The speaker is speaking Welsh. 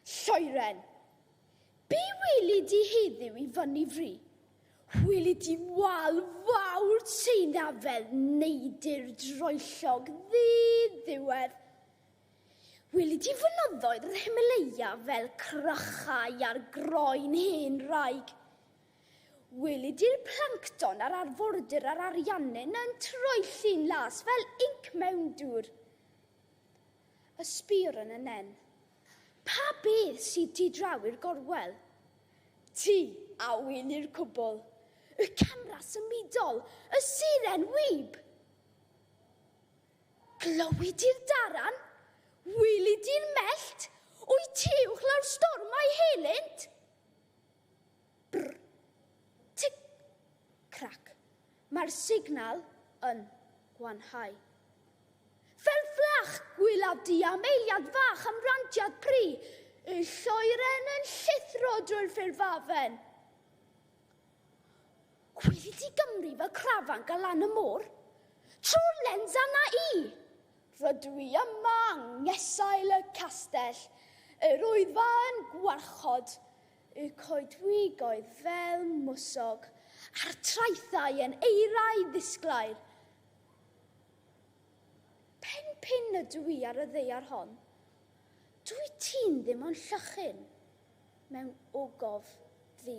Lloeren. Be weli di heddiw i fyny fri? Weli di wal fawr Tseina fel neidr droellog ddi-ddiwedd. Weli di fynyddoedd yr Himalaya fel crychau ar groen hen raig. Weli di'r plancton ar arfordir yr Ariannin yn troelli'n las fel inc mewn dŵr. Y sbïwr yn y nen. Pa beth sydd ti draw i'r gorwel? Ti, a ŵyn i'r cwbl. Y camera symudol, y siren wib! Glywid di'r daran? Wylid di'r mellt? Wyt ti uwchlaw'r storm a'i helynt? Brr. Tic. Crac. Mae'r signal yn gwanhau. Fel fflach! Gwylaf di am eiliad fach am rantiad pri y lloeren yn llithro drwy'r ffurfafen. Gwylid di Gymru fel crafanc a lan y môr? Trwy'r lens anna i! Rydw i yma yng ngesail y castell, yr Wyddfa yn gwarchod Y coedwigoedd fel mwsog. A'r traethau yn eirau ddisglair. Pen pin ydw i ar y ddeiar hon. Dwy ti'n ddim ond llychyn mewn ogof ddu.